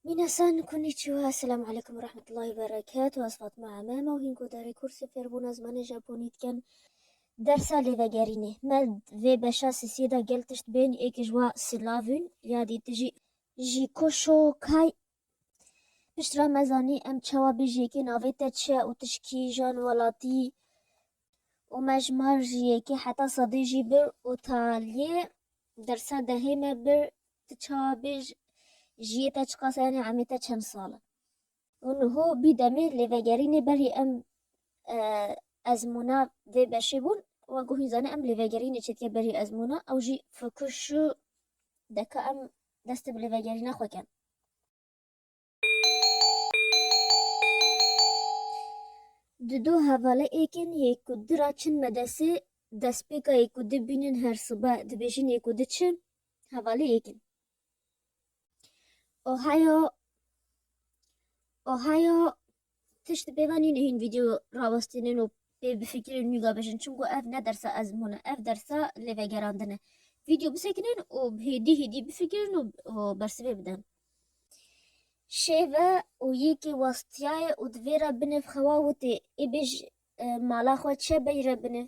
Minasan konnichiwa, Esselamu Aleykum ve Rahmetullahi ve Berekatuh, ez Fatma Emema û hîn godarê kursê fêrbûna zimanê Japonî dikim. Dersa lêvegerînê, me di vê beşa sisiyê de gel tişt bên, yekê ji wan Silavûn ya dî tu jî. Jîkûşû Kai, Pişt re me zanî em çawa bê ji yekê navê te çi ye û tu ji kîjan welatî yî û me ji mar ji yekê heta sedê jî bir û ta lê dersa dehê me bir Tu çawa bê ji jiyê te çiqas e yanî emê te çend sal e? Û niho bî demê lê vegerînê berî em ezmûna vê beşê bûn we guhîn zanî em lê vegerînê çêdike berî ezmûna ew jî fokûs şû deka em destê bi lê vegerîna xwe ken. Di du hevalê êkên yê ku di ra çin me desê destpêka yê ku di bînin her sibe dibêjin yê ku di çi hevalê êkin. Ohio Ohio Tişt pêva nîne hîn vîdeo rawestînin û pê bifikirên nûga bijin çimku ev ne dersa ezmûn e, ev dersa lêvegerandin e. Vîdeo bisekinin û hêdî hêdî bifikirin û bersivê bidin. Şêve û yekê westiyaye û di vê re binêv xewa witê ê bêj mala xwe çi beyre binêv.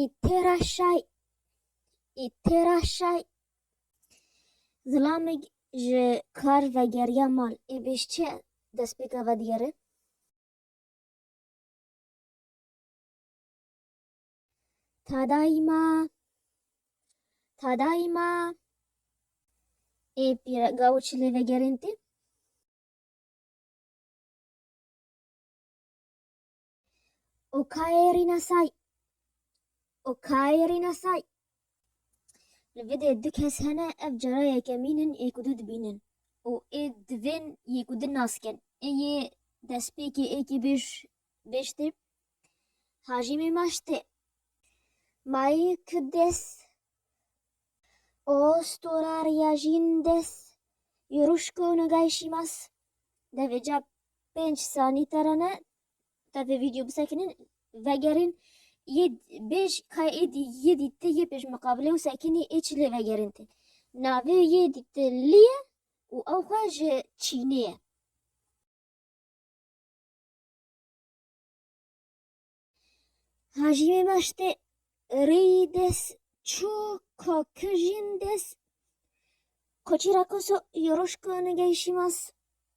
ê têra şay ê têra şay Zilamik ji kar vegeriya mal ê bêj çi destpêka vedigere? Tadaîma Tadaîma ê pîre gaw çi lê vegerên tê? Okay Rînasay Okay Rînasay Li vê dê du kes hene ev cara yekemîn in ê ku du dibînin û ê divên yê ku din nas bikin. Ê yê destpêkê ê kê bêj bêj tê Hajî Mêmaş tê. Mayî ku des o stora riyajîn des yoruşko nogayî şîmas devê ca pênc sanî terane Tevê video bisekinin vegerin yê bêj ka ê dî yê dî ti yê pêş miqabilê û sekinî ê çi lê vegerin ti. Navê yê dî ti lî ye û ew xwe ji Çînê ye. Hajî mê maştê rêyî des çû ka kijîn des koçî ra koso yoruşka nigeyşî mas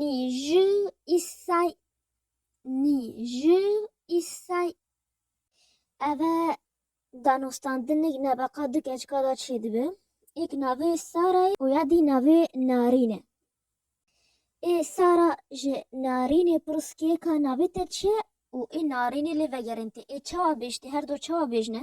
Nîjî îsay nîjî îsay eve danûstandinik nebeqa du keçika da çê dibe. Êk navê Sara ye û ya dî navê Narîn e. Ê Sara ji Narînê pirs kê ka navê te çi ye û ê Narînê lê vegerên te ê çawa bêj tê her do çawa bêjne.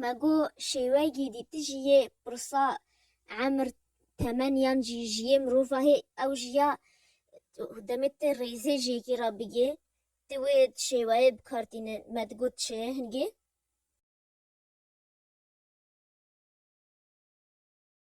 Me got şêwegî dî ti jî yê pirsa emir, temen yan jî ji yê mirova hê ew jî ya demê ti rêzê ji yekî re bigê ti wê şêweyê bi kar tînin. Me digot ti şêyê hingê.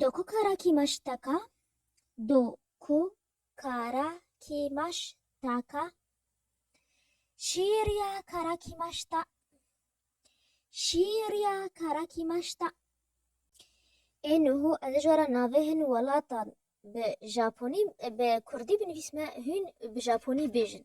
Do ku kara kî maş taka Do ku kara kî maş taka Şîr ya kara kî maş ta Şîr ya kara kî maş ta Ê nuhu ez ji were navê hin welatan bi Japonî bi Kurdî binivîsme hûn bi Japonî bêjin.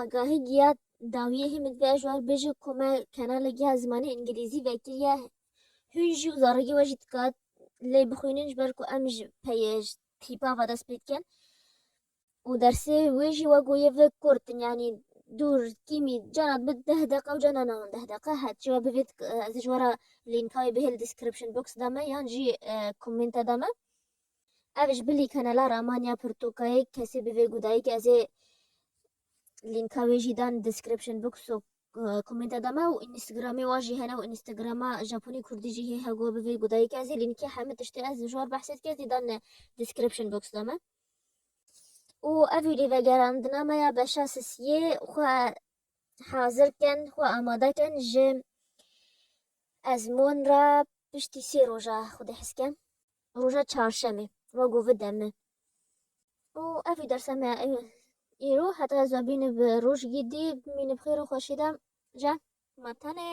Agahî giya dawiyê hê min vê ji wan bêje ku me kanalê giya zimanê îngilîzî vekiriye hûn jî û zarokê we jî dikat lê bixwînin ji ber ku em ji peyê ji tîpa ve dest pê dikin û dersê wê jî we goyê vê kurt in yanî dûr kîmî cana dibe deh deqa û cana navend deh deqa het jî we bivê ez ê ji we re lînka wê bihêl description box de me yan jî komenta de me. Ev ji bilî kanala Ramanya Pirtûkayê kesî bi vê gudayîkê ez ê lînka wê jî dan description box û komenta de me û Instagramê wa jî hene û Instagrama Japonî Kurdî jî hê hego bi vê gudayîkê ez ê lînkê hemû tiştê ez ji war behsê dike ez ê dan description box de me. û ev ê lêvegerandina me ya beşa sisiyê xwe hazir kin xwe amade kin ji ezmûn re piştî sê roja xwedî hes ke. roja çarşemê wa ku vide min. Û ev jî dersa me ya îro heta ez vebînim bi roj gîdî bimînim xêr û xweşî de cem ma tenê.